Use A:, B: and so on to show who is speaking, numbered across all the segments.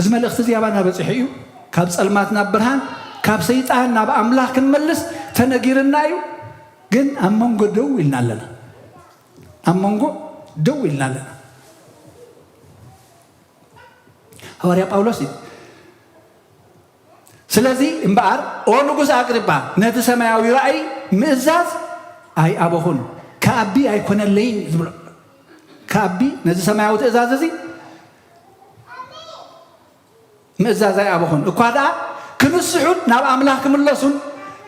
A: እዚ መልእኽቲ እዚ ኣባና በፂሑ እዩ ካብ ፀልማት ናብ ብርሃን ካብ ሰይጣን ናብ ኣምላኽ ክንመልስ ተነጊርና እዩ ግን ኣብ መንጎ ደው ኢልና ኣለና ኣብ መንጎ ደው ኢልና ኣለና ሃዋርያ ጳውሎስ እዩ ስለዚ እምበኣር፣ ኦ ንጉስ ኣግሪጳ፣ ነቲ ሰማያዊ ራእይ ምእዛዝ ኣይኣበኹን፣ ከኣቢ ኣይኰነለይን ዝብሎ ከኣቢ ነዚ ሰማያዊ ትእዛዝ እዚ ምእዛዝ ኣይኣበኹን፣ እኳ ደኣ ክንስሑን ናብ ኣምላኽ ክምለሱን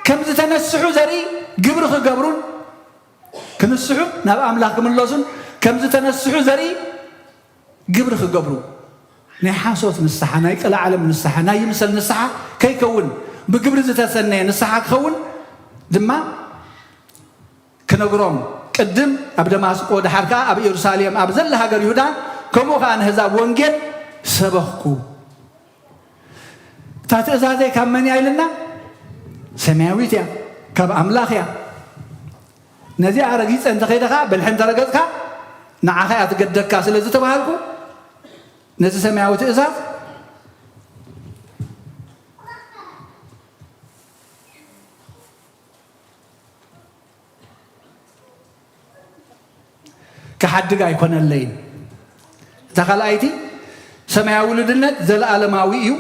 A: ከም ዝተነስሑ ዘርኢ ግብሪ ክገብሩን ክንስሑን ናብ ኣምላኽ ክምለሱን ከም ዝተነስሑ ዘርኢ ግብሪ ክገብሩ ናይ ሓሶት ንስሓ፣ ናይ ጥለዓለም ንስሓ፣ ናይ ይምሰል ንስሓ ከይከውን ብግብሪ ዝተሰነየ ንስሓ ክኸውን ድማ ክነግሮም ቅድም ኣብ ደማስቆ ደሓር ከኣ ኣብ ኢየሩሳሌም ኣብ ዘላ ሃገር ይሁዳ ከምኡ ከኣ ንሕዛብ ወንጌል ሰበኽኩ። እታ ትእዛዘይ ካብ መን እያ ኢልና ሰማያዊት እያ ካብ ኣምላኽ እያ ነዚኣ ረጊፀ እንተኸይደ ከዓ ብልሒ እንተረገፅካ ንዓኻ እያ ትገደካ ስለ ዝተባሃልኩ ነዚ ሰማያዊ ትእዛዝ ክሓድግ ኣይኮነለይን። እታ ካልኣይቲ ሰማያዊ ልድነት ዘለኣለማዊ እዩ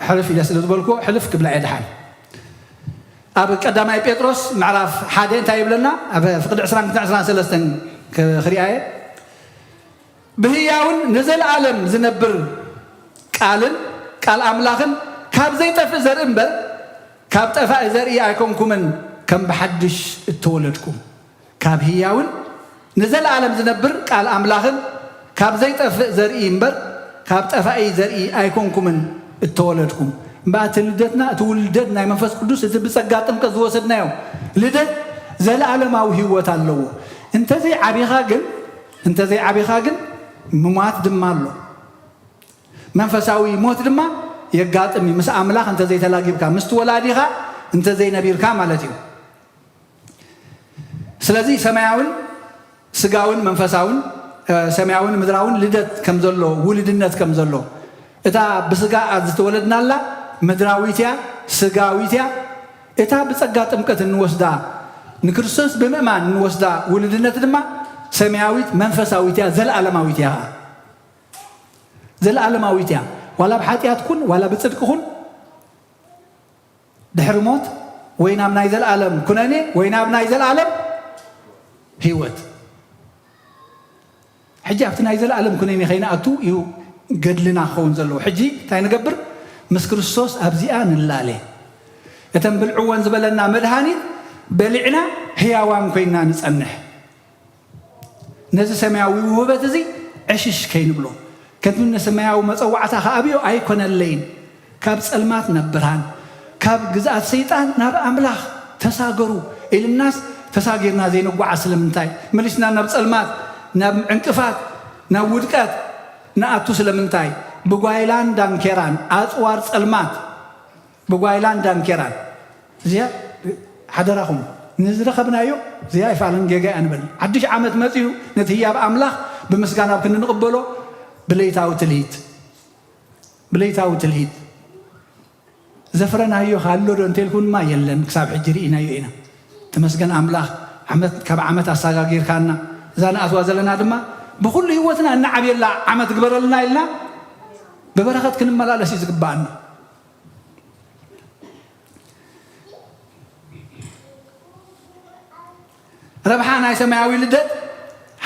A: ሕልፍ ኢለ ስለ ዝበልኩዎ ሕልፍ ክብላ እየ ድሓን ኣብ ቀዳማይ ጴጥሮስ ምዕራፍ ሓደ እንታይ ይብለና ኣብ ፍቅዲ ዕስራን ክልተ ዕስራን ሰለስተን ክሪኣየ ብህያውን ንዘለኣለም ዚነብር ቃልን ቃል ኣምላኽን ካብ ዘይጠፍእ ዘርኢ እምበር፣ ካብ ጠፋኢ ዘርኢ ኣይኮንኩምን፣ ከም ብሓድሽ እተወለድኩም፣ ካብ ህያውን ንዘለኣለም ዚነብር ቃል ኣምላኽን ካብ ዘይጠፍእ ዘርኢ እምበር፣ ካብ ጠፋኢ ዘርኢ ኣይኮንኩምን እተወለድኩም። እምበኣር እቲ ልደትና፣ እቲ ውልደት ናይ መንፈስ ቅዱስ፣ እቲ ብጸጋ ጥምቀት ዝወሰድናዮ ልደት፣ ዘለኣለማዊ ህይወት ኣለዎ። እንተዘይዓቢኻ ግን፣ እንተ ዘይዓቢኻ ግን ምሟት ድማ ኣሎ። መንፈሳዊ ሞት ድማ የጋጥም እዩ፣ ምስ ኣምላኽ እንተ ዘይተላጊብካ፣ ምስቲ ወላዲኻ እንተ ዘይነቢርካ ማለት እዩ። ስለዚ ሰማያውን ስጋውን መንፈሳውን ሰማያውን ምድራውን ልደት ከም ዘሎ ውልድነት ከም ዘሎ እታ ብስጋ ዝተወለድናላ ምድራዊት እያ፣ ስጋዊት እያ፣ እታ ብጸጋ ጥምቀት እንወስዳ ንክርስቶስ ብምእማን እንወስዳ ውሉድነት ድማ ሰማያዊት መንፈሳዊት እያ፣ ዘለኣለማዊት እያ ኸኣ። ዘለኣለማዊት እያ። ዋላ ብሓጢኣት ኩን ዋላ ብጽድቂ ኩን ድሕሪ ሞት ወይ ናብ ናይ ዘለኣለም ኩነኔ ወይ ናብ ናይ ዘለኣለም ህይወት ሕጂ ኣብቲ ናይ ዘለኣለም ኩነኔ ከይንኣቱ እዩ ገድልና ክኸውን ዘለዎ። ሕጂ እንታይ ንገብር? ምስ ክርስቶስ ኣብዚኣ ንላለ። እተን ብልዕወን ዝበለና መድሃኒት በሊዕና ህያዋን ኮይና ንጸንሕ። ነዚ ሰማያዊ ውህበት እዚ ዕሽሽ ከይንብሎ። ከምቲ ንሰማያዊ መጸዋዕታ ክኣብዮ ኣይኮነለይን። ካብ ጸልማት ናብ ብርሃን፣ ካብ ግዝኣት ሰይጣን ናብ ኣምላኽ ተሳገሩ ኢልናስ ተሳጊርና ዘይንጓዓዝ ስለምንታይ? መሊስና ናብ ጸልማት፣ ናብ ዕንቅፋት፣ ናብ ውድቀት ንኣቱ ስለምንታይ? ብጓይላን ዳንኬራን ኣጽዋር ጸልማት ብጓይላን ዳንኬራን። እዚኣ ሓደራኹም ንዝረኸብናዮ እዚኣ ኣይፋልን ጌጋ እያ ንበል። ሓድሽ ዓመት መጺኡ ነቲ ህያብ ኣምላኽ ብምስጋና ኣብ ክንዲ ንቕበሎ ብለይታዊ ትልሂት፣ ብለይታዊ ትልሂት ዘፍረናዮ ከ ኣሎ ዶ እንተልኩም ድማ የለን ክሳብ ሕጂ ርኢናዮ ኢና ተመስገን ኣምላኽ ዓመት ካብ ዓመት ኣሳጋጊርካና እዛ ንኣትዋ ዘለና ድማ ብኩሉ ህይወትና እንዓብየላ ዓመት ግበረልና ኢልና ብበረኸት ክንመላለስ እዩ ዝግባኣና ረብሓ ናይ ሰማያዊ ልደት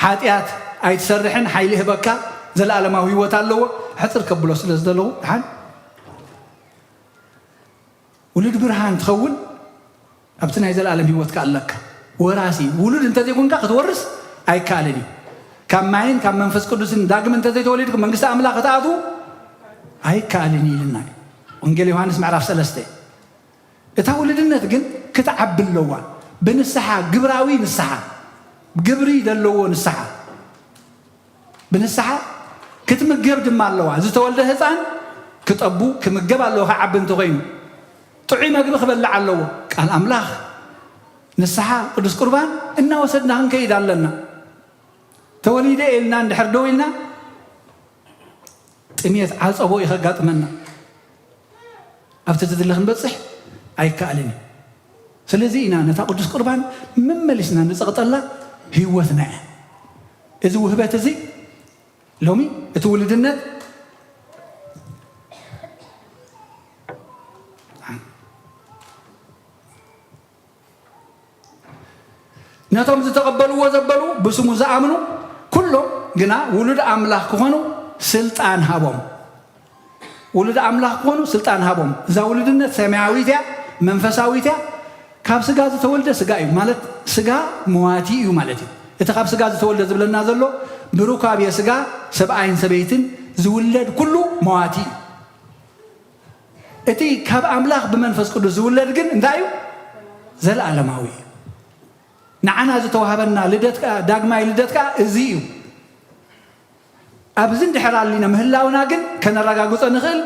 A: ሓጥያት ኣይትሰርሕን ሓይሊ ይህበካ ዘለኣለማዊ ህይወት ኣለዎ ሕጽር ከብሎ ስለ ዝደለኹ ድሓን ውሉድ ብርሃን ትኸውን ኣብቲ ናይ ዘለኣለም ህይወትካ ኣለካ ወራሲ ውሉድ እንተዘይኮንካ ክትወርስ ኣይከኣልን እዩ ካብ ማይን ካብ መንፈስ ቅዱስን ዳግም እንተዘይተወሊድኩም መንግስቲ ኣምላኽ ክትኣትዉ ኣይከኣልን እዩ ኢልና ወንጌል ዮሃንስ ምዕራፍ ሰለስተ እታ ውሉድነት ግን ክትዓቢ ኣለዋ ብንስሓ ግብራዊ ንስሓ ግብሪ ደለዎ ንስሓ ብንስሓ ክትምገብ ድማ ኣለዋ ዝተወልደ ህፃን ክጠቡ ክምገብ ኣለዎ ክዓቢ እንተኾይኑ ጥዑይ መግቢ ክበልዕ ኣለዎ ቃል ኣምላኽ ንስሓ ቅዱስ ቁርባን እናወሰድና ክንከይድ ኣለና ተወሊደ ኢልና እንድሕር ደው ኢልና ጥምየት ዓጸቦ እዩ ከጋጥመና ኣብቲ ዝድለ ክንበጽሕ ኣይከኣልን እዩ ስለዚ ኢና ነታ ቅዱስ ቁርባን መመሊስና ንጸቕጠላ ህይወትና እያ እዚ ውህበት እዚ ሎሚ እቲ ውልድነት ነቶም ዝተቐበልዎ ዘበሉ ብስሙ ዝኣምኑ ኩሎም ግና ውሉድ ኣምላኽ ክኾኑ ስልጣን ሃቦም። ውሉድ ኣምላኽ ክኾኑ ስልጣን ሃቦም። እዛ ውሉድነት ሰማያዊት እያ፣ መንፈሳዊት እያ። ካብ ስጋ ዝተወልደ ስጋ እዩ ማለት ስጋ መዋቲ እዩ ማለት እዩ። እቲ ካብ ስጋ ዝተወልደ ዝብለና ዘሎ ብሩካቤ ስጋ ሰብኣይን ሰበይትን ዝውለድ ኩሉ መዋቲ እዩ። እቲ ካብ ኣምላኽ ብመንፈስ ቅዱስ ዝውለድ ግን እንታይ እዩ? ዘለዓለማዊ እዩ። ንዓና ዝተዋህበና ልደት ከኣ ዳግማይ ልደት ከኣ እዚ እዩ። ኣብዝን ድሕር ኣሊና ምህላውና ግን ከነረጋግጾ ንኽእል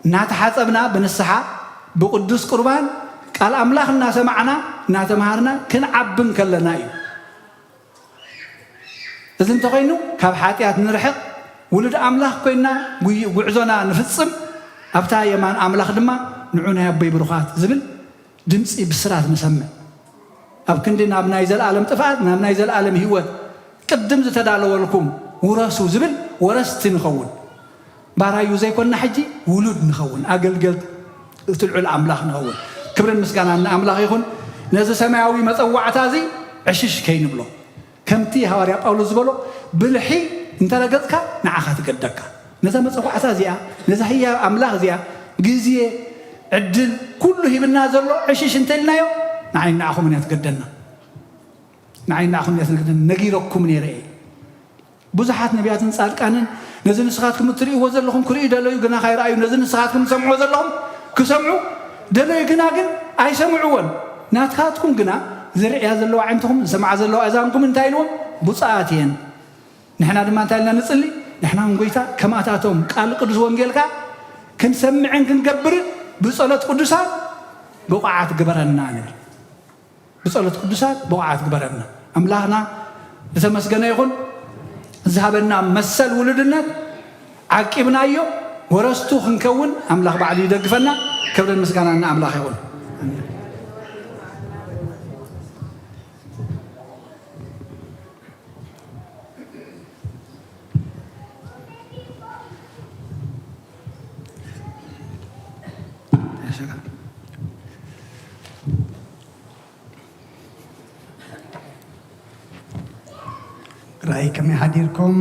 A: እናተሓጸብና ብንስሓ ብቅዱስ ቁርባን ቃል ኣምላኽ እናሰማዕና እናተማሃርና ክንዓብን ከለና እዩ። እዚ እንተኾይኑ ካብ ሓጢኣት ንርሕቕ፣ ውሉድ ኣምላኽ ኮይንና ጉይ ጉዕዞና ንፍጽም፣ ኣብታ የማን ኣምላኽ ድማ ንዑ ናይ ኣቦይ ብሩኻት ዝብል ድምጺ ብስራት ንሰምዕ። ኣብ ክንዲ ናብ ናይ ዘልኣለም ጥፍኣት ናብ ናይ ዘልኣለም ህይወት ቅድም ዝተዳለወልኩም ውረሱ ዝብል ወረስቲ ንኸውን። ባራዩ ዘይኮና ሕጂ ውሉድ ንኸውን ኣገልገልቲ እቲ ልዑል ኣምላኽ ንኸውን ክብርን ምስጋናን ንኣምላኽ ይኹን ነዚ ሰማያዊ መጸዋዕታ እዚ ዕሽሽ ከይንብሎ ከምቲ ሃዋርያ ጳውሎስ ዝበሎ ብልሒ እንተረገጽካ ንዓኻ ትገደካ ነዛ መጸዋዕታ እዚኣ ነዛ ህያብ ኣምላኽ እዚኣ ግዜ ዕድል ኩሉ ሂብና ዘሎ ዕሽሽ እንተልናዮ ንዓይ ንዓኹምን እያ ትገደና ንዓይ ንዓኹምን እያ ትገደና ነጊረኩም ነይረ እየ ብዙሓት ነብያትን ጻድቃንን ነዚ ንስኻትኩም እትርእይዎ ዘለኹም ክርእዩ ደለዩ፣ ግና ካይረኣዩ፣ ነዚ ንስኻትኩም ትሰምዕዎ ዘለኹም ክሰምዑ ደለዩ፣ ግና ግን ኣይሰምዕዎን። ናትካትኩም ግና ዝርእያ ዘለዋ ኣዒንትኹም፣ ዝሰምዓ ዘለዋ እዛንኩም እንታይ ኢልዎም? ብጹኣት እየን። ንሕና ድማ እንታይ ኢልና ንጽሊ? ንሕናውን ጐይታ ከማታቶም ቃል ቅዱስ ወንጌልካ ክንሰምዕን ክንገብርን ብጸሎት ቅዱሳን ብቑዓት ግበረና ንብል። ብጸሎት ቅዱሳት ብቑዓት ግበረና። ኣምላኽና ዝተመስገነ ይኹን ዝሃበና መሰል ውሉድነት ዓቂብናዮ ወረስቱ ክንከውን ኣምላኽ ባዕሉ ይደግፈና። ክብርን ምስጋናን ንኣምላኽ ይኹን።
B: ራእይ ከመይ ሓዲርኩም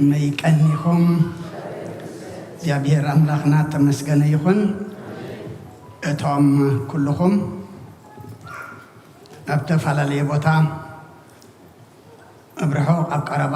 B: መይ ቀኒኹም እግዚኣብሔር ኣምላኽና ተመስገነ ይኹን እቶም ኩልኹም ኣብ ተፈላለየ ቦታ ኣብ ርሑቕ ኣብ ቀረባ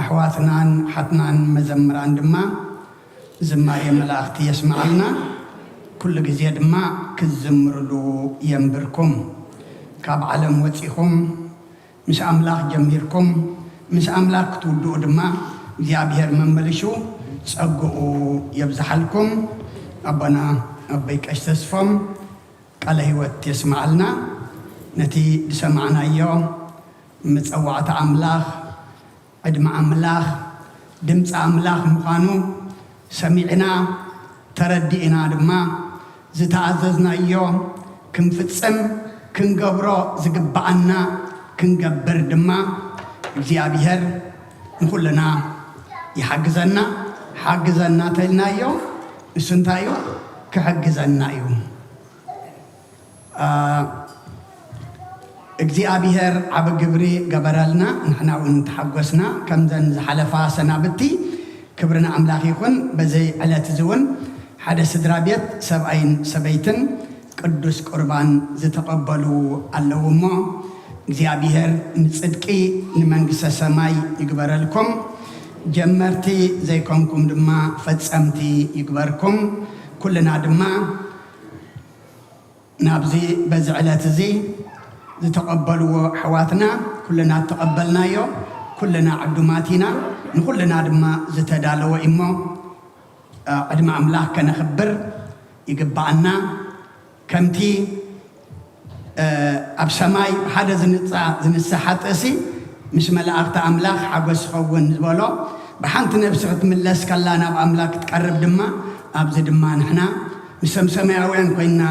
B: ኣሕዋትናን ኣሓትናን መዘምራን ድማ ዝማሬ መላእክቲ የስምዓልና ኩሉ ግዜ ድማ ክትዝምርሉ የንብርኩም ካብ ዓለም ወጺኹም ምስ ኣምላኽ ጀሚርኩም ምስ ኣምላኽ ክትውድኡ ድማ እግዚኣብሔር መመልሹ ጸግኡ የብዝሓልኩም ኣቦና ኣቦይ ቀሽ ተስፎም ቃለ ህይወት የስምዓልና ነቲ ዝሰማዕናዮ መጸዋዕታ ኣምላኽ፣ ዕድመ ኣምላኽ፣ ድምጺ ኣምላኽ ምዃኑ ሰሚዕና፣ ተረዲእና ድማ ዝተኣዘዝናዮ ክንፍጽም ክንገብሮ ዝግብኣና ክንገብር ድማ እግዚኣብሄር ንኹልና ይሓግዘና። ሓግዘና ተልናዮ ንሱ እንታይ እዩ ክሕግዘና እዩ። እግዚኣብሔር ዓቢ ግብሪ ገበረልና ንሕና ውን ተሓጎስና ከምዘን ዝሓለፋ ሰናብቲ ክብሪ ንኣምላክ ይኩን በዚ ዕለት እዚ ውን ሓደ ስድራ ቤት ሰብኣይን ሰበይትን ቅዱስ ቁርባን ዝተቀበሉ ኣለዉ እሞ እግዚኣብሔር ንጽድቂ ንመንግስተ ሰማይ ይግበረልኩም ጀመርቲ ዘይኮንኩም ድማ ፈጸምቲ ይግበርኩም ኩልና ድማ ናብዚ በዚ ዕለት እዚ ዝተቐበልዎ ኣሕዋትና ኩልና እተቐበልናዮ ኩልና ዕዱማት ኢና። ንኹልና ድማ ዝተዳለወ እዩ እሞ ቅድሚ ኣምላኽ ከነኽብር ይግብኣና። ከምቲ ኣብ ሰማይ ሓደ ዝንጻ ዝንስእ ሓጥእሲ ምስ መላእኽቲ ኣምላኽ ሓጎስ ይኸውን ዝበሎ ብሓንቲ ነፍሲ ክትምለስ ከላ ናብ ኣምላክ ክትቀርብ ድማ ኣብዚ ድማ ንሕና ምሰም ሰማያውያን ኮይንና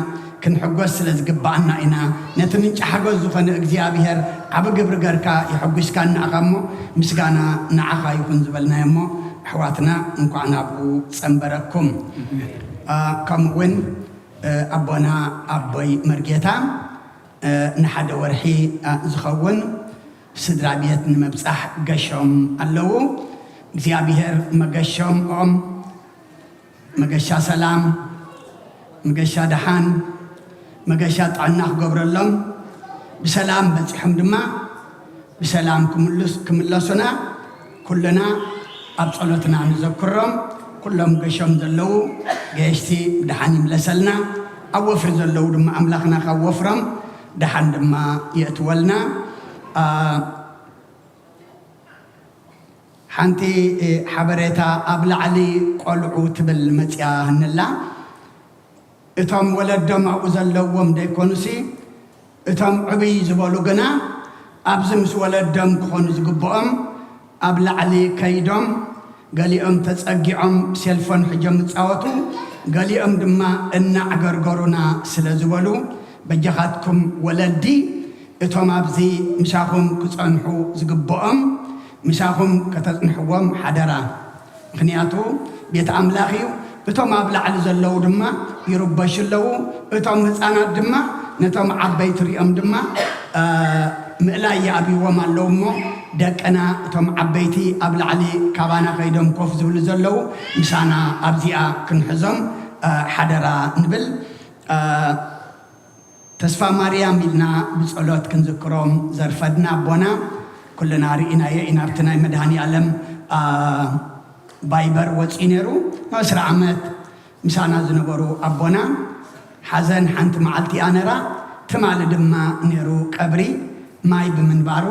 B: ክንሕጎስ ስለ ዝግብኣና ኢና ነቲ ምንጪ ሓጎስ ዝኾነ እግዚኣብሄር ዓቢ ግብሪ ገርካ የሕጒስካና እኻ እሞ ምስጋና ንዓኻ ይኹን ዝበልናዮ እሞ ኣሕዋትና እንኳዕ ናብኡ ጸንበረኩም ከምኡ ውን ኣቦና ኣቦይ መርጌታ ንሓደ ወርሒ ዝኸውን ስድራ ቤት ንምብጻሕ ገሾም ኣለዉ እግዚኣብሄር መገሾምኦም መገሻ ሰላም፣ መገሻ ደሓን፣ መገሻ ጥዕና ክገብረሎም ብሰላም በፂሖም ድማ ብሰላም ክምለሱና ኩልና ኣብ ፀሎትና ንዘክሮም። ኩሎም ገሾም ዘለዉ ገየሽቲ ብደሓን ይምለሰልና፣ ኣብ ወፍሪ ዘለዉ ድማ ኣምላኽና ካብ ወፍሮም ደሓን ድማ የእትወልና። ሓንቲ ሓበሬታ ኣብ ላዕሊ ቆልዑ ትብል መጽያ ንላ እቶም ወለዶም ኣብኡ ዘለዎም ደይኮኑሲ እቶም ዕብይ ዝበሉ ግና ኣብዚ ምስ ወለዶም ክኾኑ ዝግብኦም ኣብ ላዕሊ ከይዶም ገሊኦም ተጸጊዖም ሴልፎን ሕጆም ይጻወቱ ገሊኦም ድማ እናዕገርገሩና ስለ ዝበሉ በጃኻትኩም ወለዲ እቶም ኣብዚ ምሳኹም ክጸንሑ ዝግብኦም ምሳኹም ከተጽንሕዎም ሓደራ፣ ምኽንያቱ ቤት ኣምላኽ እዩ፣ እቶም ኣብ ላዕሊ ዘለዉ ድማ ይርበሹ ኣለዉ፣ እቶም ህጻናት ድማ ነቶም ዓበይቲ ርእዮም ድማ ምእላይ ይኣብይዎም ኣለዉ እሞ፣ ደቅና እቶም ዓበይቲ ኣብ ላዕሊ ካባና ከይዶም ኮፍ ዝብሉ ዘለዉ ምሳና ኣብዚኣ ክንሕዞም ሓደራ ንብል። ተስፋማርያም ኢልና ብጸሎት ክንዝክሮም ዘርፈድና ኣቦና ኩልና ርኢናዮ ኢና ኣብቲ ናይ መድሃኒኣለም ባይበር ወጺኡ ነይሩ ን ዕስራ ዓመት ምሳና ዝነበሩ ኣቦና ሓዘን ሓንቲ መዓልቲ እያ ነራ ትማሊ ድማ ነይሩ ቀብሪ ማይ ብምንባሩ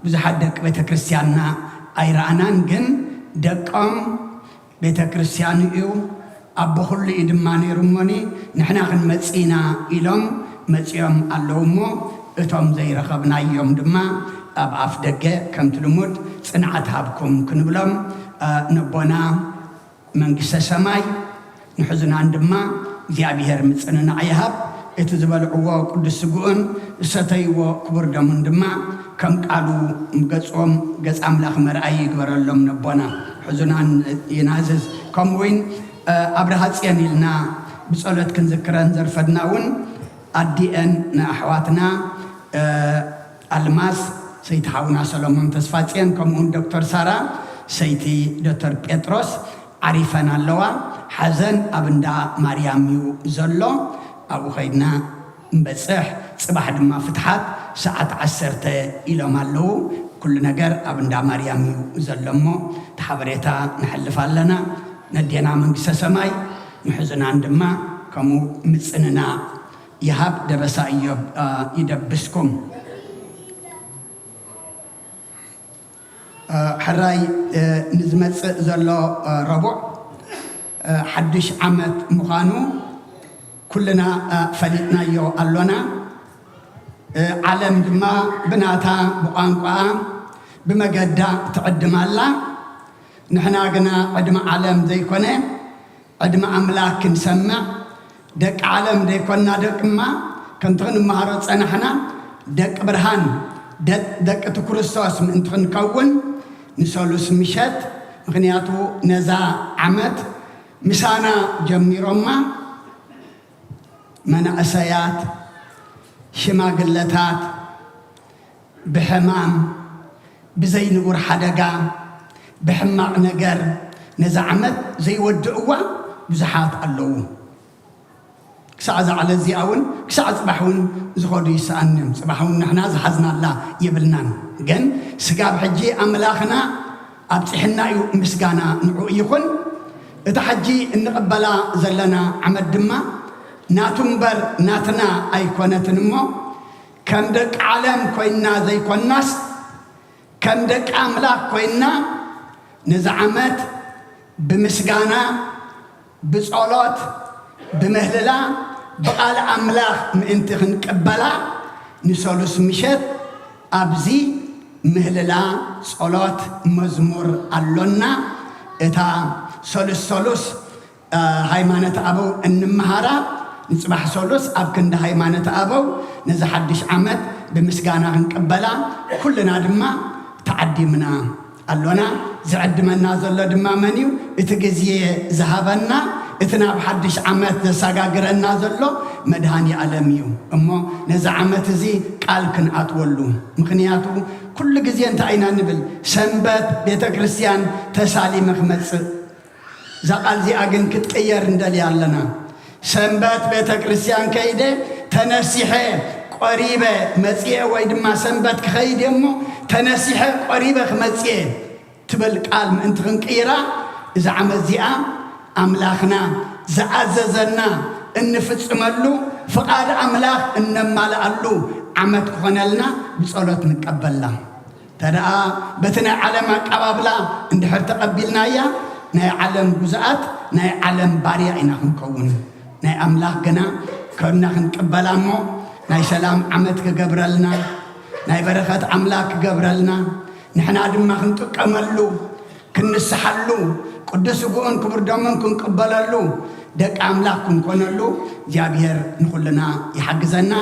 B: ብዙሓት ደቂ ቤተክርስትያንና ኣይረኣናን ግን ደቆም ቤተክርስቲያኑ እዩ ኣቦ ኩሉ እዩ ድማ ነይሩ እሞኒ ንሕና ክንመጽእ ኢና ኢሎም መጺኦም ኣለዉ እሞ እቶም ዘይረኸብናዮም ድማ ኣብ ኣፍ ደገ ከምቲ ልሙድ ጽንዓት ሃብኩም ክንብሎም ነቦና መንግስተ ሰማይ ንሕዙናን ድማ እግዚኣብሔር ምጽንናዕ ይሃብ እቲ ዝበልዕዎ ቅዱስ ስግኡን ዝሰተይዎ ክቡር ደሙን ድማ ከም ቃሉ ገጾም ገጽ ኣምላኽ መርኣዪ ይግበረሎም ነቦና ሕዙና ይናዝዝ ከምኡ ውን ኣብርሃጽዮን ኢልና ብጸሎት ክንዝክረን ዘርፈድና ውን ኣዲኤን ንኣሕዋትና ኣልማዝ ሰይቲ ሓውና ሰሎሞን ተስፋጽዮን ከምኡ ውን ዶክተር ሳራ ሰይቲ ዶተር ጴጥሮስ ዓሪፈን ኣለዋ ሓዘን ኣብ እንዳ ማርያም ዩ ዘሎ ኣብኡ ከይድና ንበጽሕ ጽባሕ ድማ ፍትሓት ሰዓት ዓሰርተ ኢሎም ኣለዉ ኩሉ ነገር ኣብ እንዳ ማርያም እዩ ዘሎ እሞ እቲ ሓበሬታ ነሕልፍ ኣለና ነዴና መንግስተ ሰማይ ንሕዙናን ድማ ከምኡ ምጽንና ይሃብ ደበሳ እዮብ ይደብስኩም። ሕራይ ንዝመጽእ ዘሎ ረቡዕ ሓድሽ ዓመት ምዃኑ ኩልና ፈሊጥናዮ ኣሎና። ዓለም ድማ ብናታ ብቋንቋኣ ብመገዳ ትዕድም ኣላ። ንሕና ግና ዕድመ ዓለም ዘይኮነ፣ ዕድመ ኣምላክ ክንሰምዕ ደቂ ዓለም ደይኮና ደቅማ ከምቲ ክንመሃሮ ዝጸናሕና ደቂ ብርሃን ደቂ እቲ ኩርስቶስ ምእንቲ ክንከውን ንሰሉስ ምሸት ምክንያቱ ነዛ ዓመት ምሳና ጀሚሮማ መናእሰያት ሽማግለታት ብሕማም፣ ብዘይ ንቡር ሓደጋ፣ ብሕማቕ ነገር ነዛ ዓመት ዘይወድእዋ ብዙሓት ኣለዉ። ክሳዕ እዛ ዕለት እዚኣ ውን ክሳዕ ጽባሕ ውን ዝኸዱ ይሰኣኑ እዮም። ጽባሕ ውን ንሕና ዝሓዝናላ የብልናን። ግን ስጋብ ሕጂ ኣምላኽና ኣብጺሕና እዩ ምስጋና ንዕኡ ይኹን። እታ ሕጂ እንቕበላ ዘለና ዓመት ድማ ናቱ እምበር ናትና ኣይኮነትን እሞ፣ ከም ደቂ ዓለም ኮይንና ዘይኮንናስ ከም ደቂ ኣምላኽ ኮይንና ነዚ ዓመት ብምስጋና፣ ብጸሎት፣ ብምህልላ፣ ብቓል ኣምላኽ ምእንቲ ክንቅበላ ንሰሉስ ምሸት ኣብዚ ምህልላ፣ ጸሎት፣ መዝሙር ኣሎና። እታ ሰሉስ ሰሉስ ሃይማኖት ኣበው እንመሃራ ንፅባሕ ሰሉስ ኣብ ክንዲ ሃይማኖት ኣበው ነዚ ሓዱሽ ዓመት ብምስጋና ክንቅበላ ኩልና ድማ ተዓዲምና ኣሎና። ዝዕድመና ዘሎ ድማ መን እዩ? እቲ ግዜ ዝሃበና እቲ ናብ ሓዱሽ ዓመት ዘሰጋግረና ዘሎ መድሃኒኣለም እዩ። እሞ ነዚ ዓመት እዚ ቃል ክንኣትወሉ ምኽንያቱ ኩሉ ግዜ እንታይ ኢና ንብል ሰንበት ቤተክርስትያን ተሳሊመ ክመፅእ እዛ ቃል እዚኣ ግን ክትቅየር ንደልያ ኣለና። ሰንበት ቤተ ክርስቲያን ከይደ ተነሲሐ ቆሪበ መጽኤ ወይ ድማ ሰንበት ክኸይድ እየ እሞ ተነሲሐ ቆሪበ ክመጽእ እየ ትብል ቃል ምእንቲ ክንቅይራ እዚ ዓመት እዚኣ ኣምላኽና ዝኣዘዘና እንፍጽመሉ ፍቓድ ኣምላኽ እነማልኣሉ ዓመት ክኾነልና ብጸሎት ንቀበላ። ተደኣ በቲ ናይ ዓለም ኣቃባብላ እንድሕር ተቐቢልናያ ናይ ዓለም ጉዙኣት ናይ ዓለም ባርያ ኢና ክንከውን። ናይ ኣምላኽ ግና ከብና ክንቅበላ እሞ ናይ ሰላም ዓመት ክገብረልና ናይ በረኸት ኣምላክ ክገብረልና ንሕና ድማ ክንጥቀመሉ ክንንስሓሉ፣ ቅዱስ ስግኡን ክቡር ደሙን ክንቅበለሉ፣ ደቂ ኣምላኽ ክንኮነሉ እግዚኣብሔር ንኹልና ይሓግዘና፣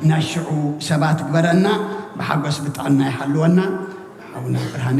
B: ናይ ሽዑ ሰባት ይግበረና፣ ብሓጎስ ብጥዕና ይሓልወና። ሓውና ብርሃነ።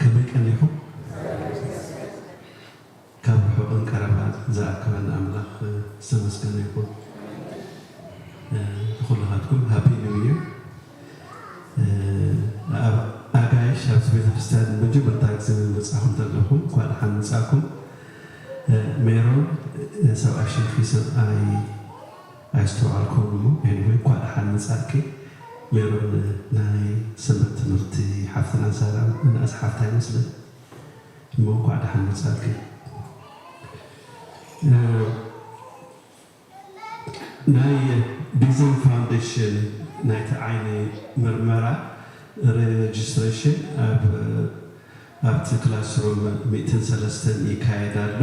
C: ከመይ ቀኒኹም? ካብ ርሑቕን ቀረባን ዝኣከበና ኣምላኽ ዝተመስገነ ይኹን። ንኹላኻትኩም ሃፒ ኒው ይር። ኣብ ኣጋይሽ ኣብዚ ቤተክርስትያን ንመጀመርታ ግዜ ምመጻኹም ተለኹም እንኳዕ ደሓን መጻእኩም። ሜሮን ሰብኣይ ሽምኪ ሰብኣይ ኣይስተውዓልኩዎን እሞ ኤኒወይ እንኳዕ ደሓን መፃእኪ ሜሮን ናይ ሰንበት ትምህርቲ ሓፍትና ሳራ ምንኣስ ሓፍታ ይመስለኒ እሞ እንኳዕ ደሓን መፃእኪ ናይ ቢዝን ፋውንዴሽን ናይቲ ዓይኒ ምርመራ ሬጅስትሬሽን ኣብ ኣብቲ ክላስሩም ሚእትን ሰለስተን ይካየድ ኣሎ።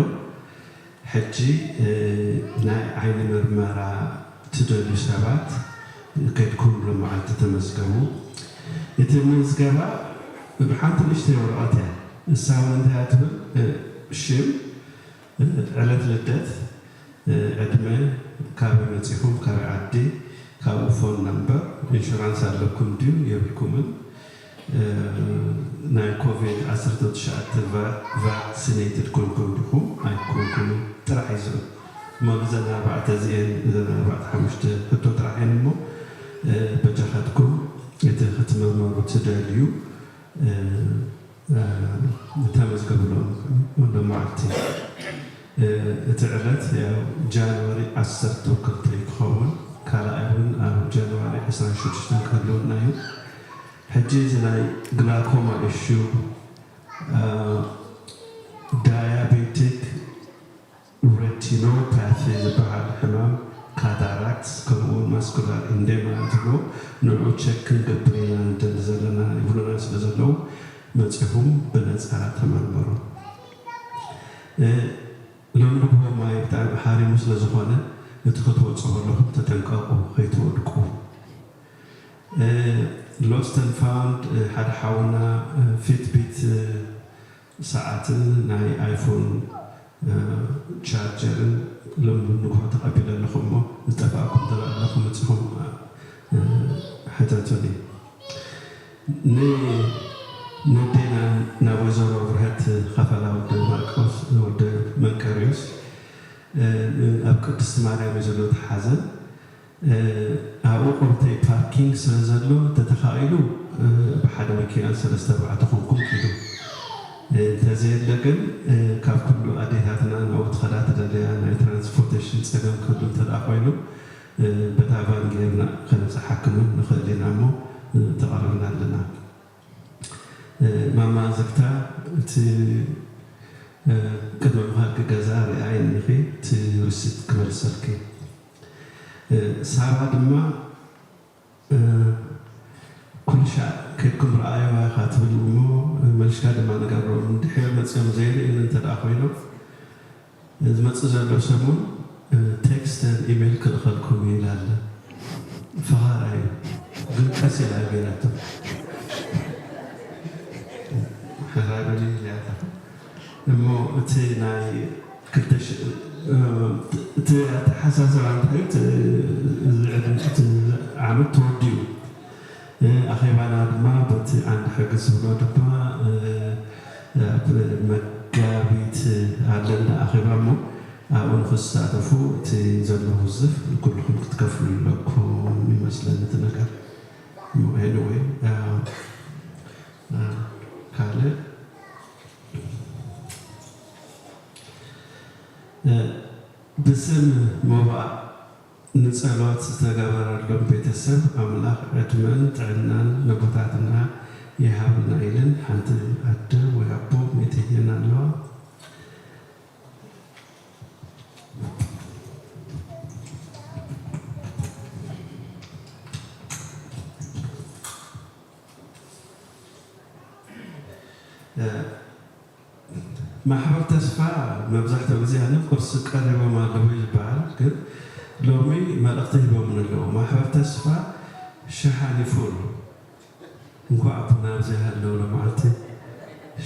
C: ሕጂ ናይ ዓይኒ ምርመራ ትደልዩ ሰባት ከይድኩም ሎምዓልቲ ተመዝገቡ። እቲ ምዝገባ ሓንቲ ንእሽተይ ወረቐት እያ። ንሳ እውን እንታይ እያ ትብል ሽም፣ ዕለት ልደት፣ ዕድመ፣ ካበይ መጺኹም ካበይ ዓዲ፣ ካብኡ ፎን ነምበር፣ ኢንሹራንስ ኣለኩም ድዩ የብልኩምን፣ ናይ ኮቪድ ዓሰርተው ትሽዓተ ቫክ ሲነይትድ ኮንኩም ዲኹም ኣይኮንኩምን ጥራሕ እዩ ዝብል እሞ ንዘን ኣርባዕተ እዚኤን እዘን ኣርባዕተ ሓሙሽተ ሕቶ ጥራሕ እየን እሞ በጃኻትኩም እቲ ክትምርመሩ ትደልዩ ተመዝገቡሎም ሎም መዓልቲ እቲ ዕለት ያው ጃንዋሪ ዓሰርተው ክልተ እዩ ክኸውን ካልኣይ እውን ኣብ ጃንዋሪ ዕስራን ሽዱሽተን ክህልወና እዩ። ሕጂ እዚ ናይ ግላኮማ ኢሹ ዳያቤቲክ ሬቲኖፓቲ ዝብሃል ሕማም ካታራክት ከምኡ ውን ማስኩላር ኢንዴማ ዝብልዎ ንዑ ቸክ ክንገብር ኢና ንደሊ ዘለና ይብሉና ስለ ዘለዉ መጺኹም ብነጻ ተመርመሩ እ ሎም ንግሆ ማይ ብጣዕሚ ሓሪሙ ስለ ዝኾነ እቲ ክትወጹ ከለኹም ተጠንቀቑ ከይትወድቁ። ሎስት ኣንድ ፋውንድ ሓደ ሓውና ፊትቢት ሰዓትን ናይ ኣይፎን ቻርጀርን ሎሚ ንግሆ ተቀቢለ ኣለኹ እሞ ዝጠፋኣኩም ተለኣለኹም መጺኹም ሕተቱኒ ን ነዴና ናብ ወይዘሮ ብርሀት ኸፈላ ወደ ማርቆስ ወደ መንቀርዮስ ኣብ ቅድስት ማርያም እዩ ዘሎ እቲ ሓዘን ኣብኡ ቁርተይ ፓርኪንግ ስለ ዘሎ እንተተኻኢሉ ብሓደ መኪና ሰለስተ ኣርባዕተ ኮንኩም ኪዱ እንተዘየለ ግን ካብ ኩሉ ኣዴታትና ናብኡ ትኸዳ ትደለያ ናይ ትራንስፖርተሽን ጸገም ክህሉ እንተድኣ ኮይኑ በታ ቫን ጌርና ከንብጽሓክም ውን ንኽእል ኢና እሞ ተቐሪብና ኣለና ማማ ዝግታ እቲ ቅድሚ ምኻድኪ ገዛ ርኣይ እንኺ እቲ ሪሲት ክመልሰልኪ። ሳራ ድማ ኩልሻዕ ከድኩም ረኣይዋ ኢኻ ትብል እሞ መልሽካ ድማ ንገሮም ድሒር መጽዮም ዘይርእዩኒ እንተ ኮይኖም ዝመጽእ ዘሎ ሰሙን ቴክስት ን ኢሜል ክልእኸልኩም እዩ ኢላ ኣላ ፈኻራ እዩ ግን ቀስ ኢላ ገይራቶ። ሕራይ በልኒ ኢለያታ። እሞ እቲ ናይ ክልተ ሽሕ እቲ ኣተሓሳስባ እንታይ እዩ እዚ ዕድመ እቲ ዓመት ተወዲኡ ኣኼባና ድማ በቲ ዓንዲ ሕጊ ዝብሎ ድማ ኣብ መጋቢት ኣሎ እንዳ ኣኼባ እሞ ኣብኡ ንኽትሳተፉ እቲ ዘሎ ውዝፍ ኩልኹም ክትከፍሉ ኣለኩም ይመስለኒ እቲ ነገር እሞ ኤኒወይ ካልእ ብስም ሞባእ ንጸሎት ዝተገበረሎም ቤተሰብ ኣምላኽ ዕድመን ጥዕናን ነቦታትና ይሃበና ኢለን ሓንቲ ኣደ ወይ ኣቦ ሜቴየን ኣለዋ። ማሕበር ተስፋ መብዛሕትኡ ግዜ ኣነ ኩርሲ ቀሪቦም ኣለዉ እዩ ዝበሃል ግን ሎሚ መልእኽቲ ሂቦምኒ ኣለዉ ማሕበር ተስፋ ሸሓኒ ፉል እንኳዕ ብና ኣብዚ ሃለው ሎምዓልቲ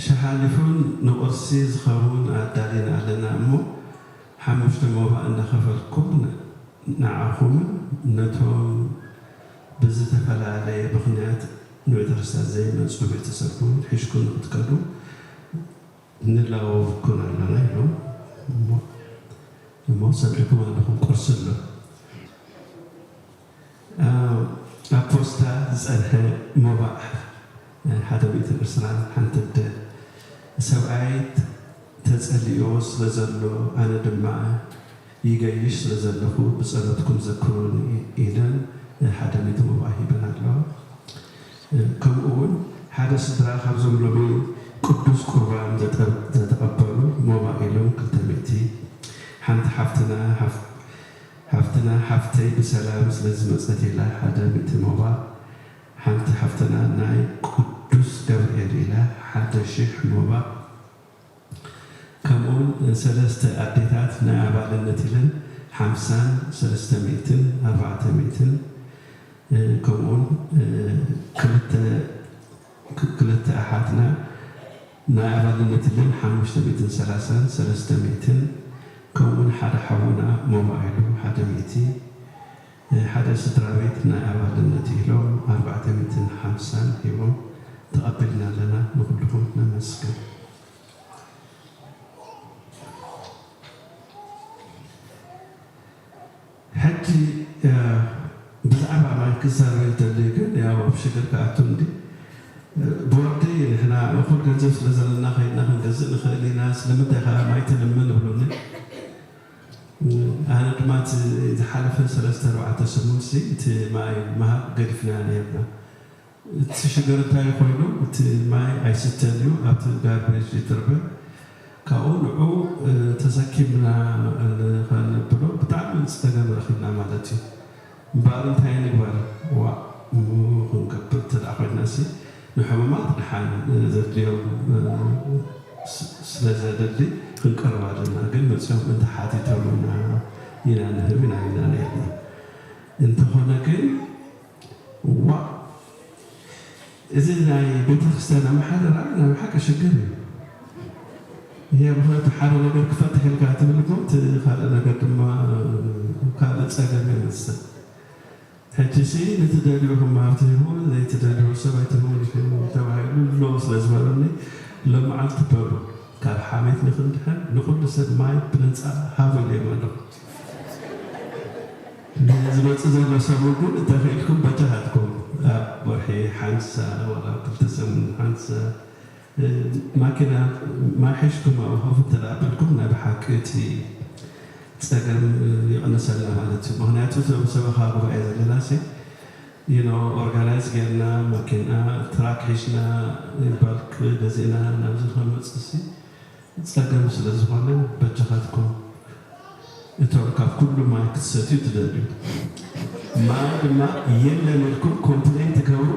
C: ሸሓኒ ፉል ንቁርሲ ዝኸውን ኣዳሊና ኣለና እሞ ሓሙሽተ ሞባእ እንዳኸፈልኩም ንዓኹምን ነቶም ብዝተፈላለየ ምኽንያት ንቤተክርስትያን ዘይመጹ ቤተሰብ'ውን ሒሽኩም ንክትከዱ ንላወብኩም ኣሎና ኢሎም እሞ እሞ ሰሚዕኩም ኣለኹም ቁርሲ ኣሎ ኣብ ፖስታ ዝጸንሐ ሞባእ ሓደ ሚእትን ዕስራን ሓንቲ ኣደ ሰብኣይ ተጸሊእዎ ስለዘሎ ኣነ ድማ ይገይሽ ስለ ዘለኹ ብጸሎትኩም ዘክሩኒ ኢለን ሓደ ሚእቲ ሞባ ሂበን ኣለዋ። ከምኡ ውን ሓደ ስድራ ካብዞም ሎሚ ቅዱስ ቁርባን ዘተቀበሉ ሞባ ኢሎም ክልተ ሚእቲ፣ ሓንቲ ሓፍትና ሓፍተይ ብሰላም ስለ ዝመጸት ኢላ ሓደ ሚእቲ ሞባ፣ ሓንቲ ሓፍትና ናይ ቅዱስ ገብርኤል ኢላ ሓደ ሽሕ ሞባ፣ ከምኡውን ሰለስተ ኣዴታት ናይ ኣባልነት ኢለን ሓምሳን ሰለስተ ሚእትን ኣርባዕተ ሚእትን ከምኡውን ክልተ ክልተ ኣሓትና ናይ ኣባልነት ኢለን ሓሙሽተ ሚእትን ሰላሳን ሰለስተ ሚእትን ከምኡውን ሓደ ሓውና ሞባኢሉ ሓደ ሚእቲ ሓደ ስድራቤት ናይ ኣባልነት ኢሎም ኣርባዕተ ሚእትን ሓምሳን ሂቦም ተቀቢልና ኣለና ንኩልኩም ነመስግን። ሕጂ ብዛዕባ ማይ ክዛረብ ይደሊ ግን ያው ኣብ ሽግር ክኣቱ እንዲ ቦርዲ ንሕና እኩል ገንዘብ ስለ ዘለና ከይድና ክንገዝእ ንክእል ኢና ስለምንታይ ከኣ ማይ ትልምን እብሉኒ። ኣነ ድማ እቲ ዝሓለፈ ሰለስተ ኣርባዕተ ሰሙንሲ እቲ ማይ ምሃብ ገዲፍናዮ ኔርና። እቲ ሽግር እንታይ ኮይኑ እቲ ማይ ኣይስተን እዩ ኣብቲ ጋርቤጅ ይጥርበ ካብኡ ንዑኡ ተሰኪምና ንኸነብሎ ብጣዕሚ ጸገም ረኺብና ማለት እዩ። እምበኣር እንታይ ንግበር? ዋእ ምሁር ክንገብር እንተ ደኣ ኮይናሲ፣ ንሕሙማት ደሓን ዘድልዮም ስለ ዘድሊ ክንቀርብ ኣለና። ግን መጺኦም እንተ ሓቲቶምና ኢና ንህብ ኢና ኢልና ነይርና። እንተኾነ ግን ዋእ! እዚ ናይ ቤተክርስትያን ኣመሓድራ ናይ ብሓቂ ሽግር እዩ እሄ ምክንያቱ ሓደ ነገር ክፈትሕ ኢልካ ትብል እኮ እቲ ካልእ ነገር ድማ ካልእ ጸገም የምጽእ ሕጂሲ ንትደልዩ ክምሃር ትህቡ ዘይትደልዩ ሰብ ኣይትህቡን ኢኹም ተባሂሉ ኣሎ ስለ ዝበሉኒ ሎምዓልቲ በሉ ካብ ሓሜት ንክንድሕን ንኩሉ ሰብ ማይ ብነጻ ሃቡ ኢለዮም ኣለኹ። ሕጂ ዝመጽእ ዘሎ ሰሙን ግን እንተኺኢልኩም በጃኻትኩም ኣብ ወርሒ ሓንሳ ዋላ ኣብ ክልተ ሰሙን ሓንሳ ማኪና ማይ ሒዝኩም ኣብኡ ኮፍ እንተ ኣቢልኩም ናይ ብሓቂ እቲ ጸገም ይቕንሰልና ማለት እዩ። ምኽንያቱ እዞም ሰበኻ ጉባኤ ዘለናሲ you know ኦርጋናይዝ ጌርና ማኪና ትራክ ሒዝና in bulk ገዚእና ናብዚ ክንመጽእሲ ጸገም ስለዝኾነ በጃኻትኩም እቶም ካብ ኩሉ ማይ ክትሰትዩ ትደልዩ ማይ ድማ የለን ኢልኩም ኮምፕሌን ትገብሩ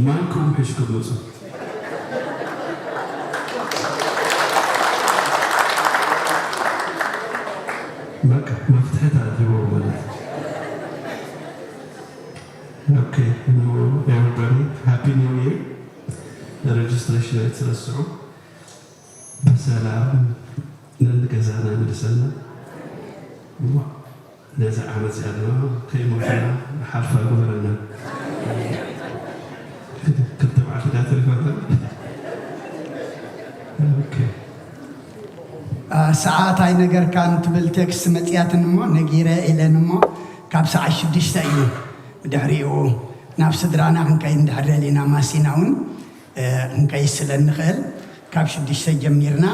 C: ማይኩም ሒሽኩም ምጹ። በቃ መፍትሒ ተረኪቦም ማለት እዩ። ኦኬ ን ኤቨሪባዲ ሃፒ ኒው ይር ረጅስትሬሽን ኣይትረስዑ። ብሰላም ነንገዛና ይምልሰና እሞ ነዛ ዓመት እዚኣ ድማ ከይሞትና ንሓልፋ ይግበረና ክልተ መዓልቲ ድያ ተሪፋትና ኦኬ ኣ፣
B: ሰዓት ኣይነገርካን ትብል ቴክስት መፅያትን እሞ ነጊረ ኢለን እሞ ካብ ሰዓት ሽዱሽተ እዩ ድሕሪኡ ናብ ስድራና ክንከይድ እንድሕር ደሊና ማሲና እውን ክንቀይስ ስለ እንኽእል ካብ ሽዱሽተ ጀሚርና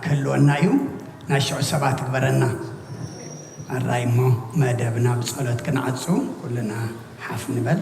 B: ክህልወና እዩ ናይ ሽዑ ሰባት ግበረና ኣራይ እሞ መደብና ብጸሎት ክንዓጹ ኩልና ሓፍ ንበል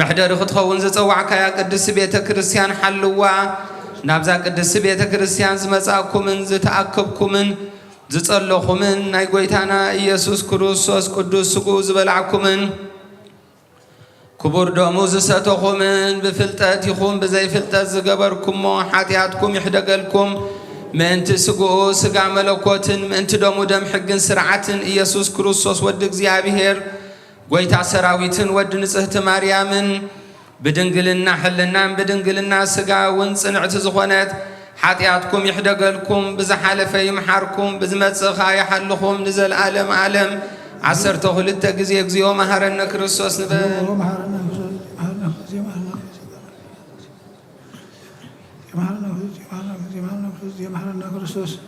D: መሕደሪ ክትኸውን ዝጸዋዕካያ ቅድስቲ ቤተ ክርስቲያን ሓልዋ። ናብዛ ቅድስቲ ቤተ ክርስቲያን ዝመጻእኩምን ዝተኣከብኩምን ዝጸለኹምን ናይ ጐይታና ኢየሱስ ክርስቶስ ቅዱስ ስግኡ ዝበላዕኩምን ክቡር ደሙ ዝሰተኹምን ብፍልጠት ይኹን ብዘይፍልጠት ዝገበርኩሞ ሓጢኣትኩም ይሕደገልኩም ምእንቲ ስግኡ ስጋ መለኮትን ምእንቲ ደሙ ደም ሕግን ስርዓትን ኢየሱስ ክርስቶስ ወዲ እግዚኣብሔር ጎይታ ሰራዊትን ወዲ ንጽህቲ ማርያምን ብድንግልና ሕልናን ብድንግልና ስጋ እውን ጽንዕቲ ዝኾነት ሓጢኣትኩም ይሕደገልኩም ብዝሓለፈ ይምሓርኩም ብዝመጽእ ከኣ ይሓልኹም ንዘልኣለም ኣለም ዓሰርተ ክልተ ግዜ እግዚኦ መሃረነ ክርስቶስ ንበል Johanna Christus.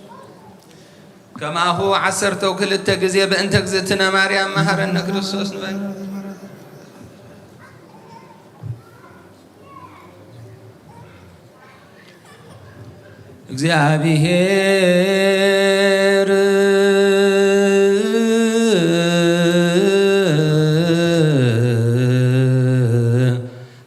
D: ከማሁ ዓሰርተው ክልተ ግዜ በእንተ እግዝእትነ ማርያም መሃረነ ክርስቶስ ንበል። እግዚአብሔር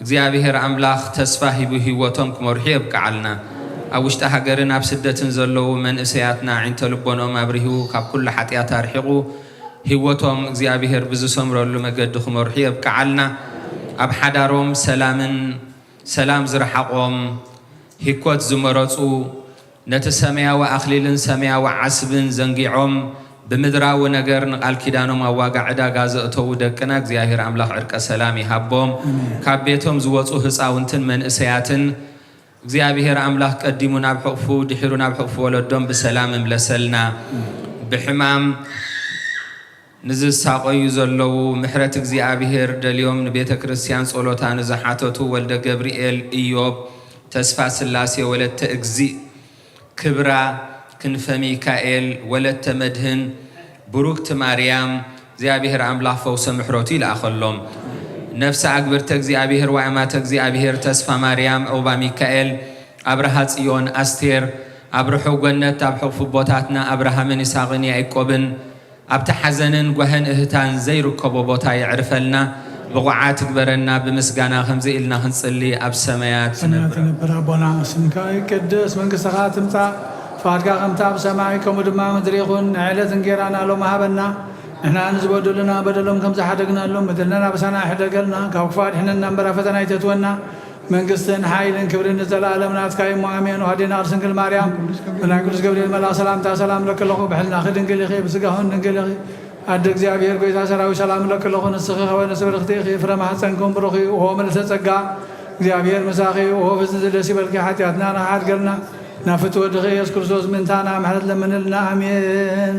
D: እግዚኣብሔር ኣምላኽ ተስፋ ሂቡ ሂወቶም ክመርሑ የብቅዓልና ኣብ ውሽጢ ሃገርን ኣብ ስደትን ዘለዉ መንእሰያትና ኣዒንተ ልቦንኦም ኣብሪሁ ካብ ኩሉ ሓጥያት ኣርሒቁ ሂወቶም እግዚኣብሔር ብዝሰምረሉ መገዲ ክመርሑ የብቅዓልና ኣብ ሓዳሮም ሰላምን ሰላም ዝረሓቆም ሂኮት ዝመረጹ ነቲ ሰማያዊ ኣኽሊልን ሰማያዊ ዓስብን ዘንጊዖም ብምድራዊ ነገር ንቃል ኪዳኖም ኣብ ዋጋ ዕዳጋ ዘእተዉ ደቅና እግዚኣብሔር ኣምላኽ ዕርቀ ሰላም ይሃቦም ካብ ቤቶም ዝወጹ ህጻውንትን መንእሰያትን እግዚኣብሔር ኣምላኽ ቀዲሙ ናብ ሕቕፉ ድሒሩ ናብ ሕቕፉ ወለዶም ብሰላም እምለሰልና ብሕማም ንዝሳቐዩ ዘለዉ ምሕረት እግዚኣብሔር ደልዮም ንቤተ ክርስቲያን ጸሎታ ንዝሓተቱ ወልደ ገብርኤል ኢዮብ ተስፋ ስላሴ ወለተ እግዚእ ክብራ ክንፈ ሚካኤል ወለተ መድህን ብሩክት ማርያም እግዚኣብሔር ኣምላክ ፈውሰ ምሕረቱ ይልኣኸሎም ነፍሰ ኣግብርተ እግዚኣብሔር ወኣማተ እግዚኣብሔር ተስፋ ማርያም ዑቕባ ሚካኤል ኣብርሃ ጽዮን ኣስቴር ኣብርሑ ገነት ኣብ ሕቕፊ ኣቦታትና ኣብርሃምን ይሳቅን ያኢቆብን ኣብቲ ሓዘንን ጓህን እህታን ዘይርከቦ ቦታ የዕርፈልና ብቑዓት ይግበረና ብምስጋና ከምዚ ኢልና ክንጽሊ ኣብ ሰመያት ሰማያት ዝነብር ትነብር ኣቦና
A: ስምካ ይቀደስ መንግስትኻ ትምጻእ ፍቃድካ ከምቲ ኣብ ሰማይ ከምኡ ድማ ኣብ ምድሪ ይኹን ናይ ዕለት እንጌራና ሎሚ ሃበና ንሕና ንዝበደሉና በደሎም ከምዝሓደግናሎም በደልናን ኣበሳና ኣይሕደገልና ካብ ክፉእ ኣድሕነና እምበር ኣብ ፈተና ኣይተእትወና መንግስትን ሓይልን ክብርን ንዘላኣለም ናትካ እዩሞ ኣሜን ኦህዴን ኣርስንግል ማርያም ብናይ ቅዱስ ገብርኤል መልኣክ ሰላምታ ሰላም እለኪ ኣለኩ ብሕልናኪ ድንግል ኢኪ ብስጋክን ድንግል ኢኪ ኣደ እግዚኣብሔር ጎይታ ሰራዊት ሰላም እለኪ ኣለኩ ንስኪ ከወነስ ብርክቲ ኢኪ ፍረ ማህፀንክን ብሩክ እዩ ኦሆ ምልእተ ፀጋ እግዚኣብሔር ምሳኪ እዩ ኦሆ ፍፅምቲ ደስ ይበልኪ ሓጢኣትና ንኪ ሓድገልና ናብ ፍቲ ወድኪ እየሱስ ክርስቶስ ምእንታና ምሕረት ለምንልና ኣሜን።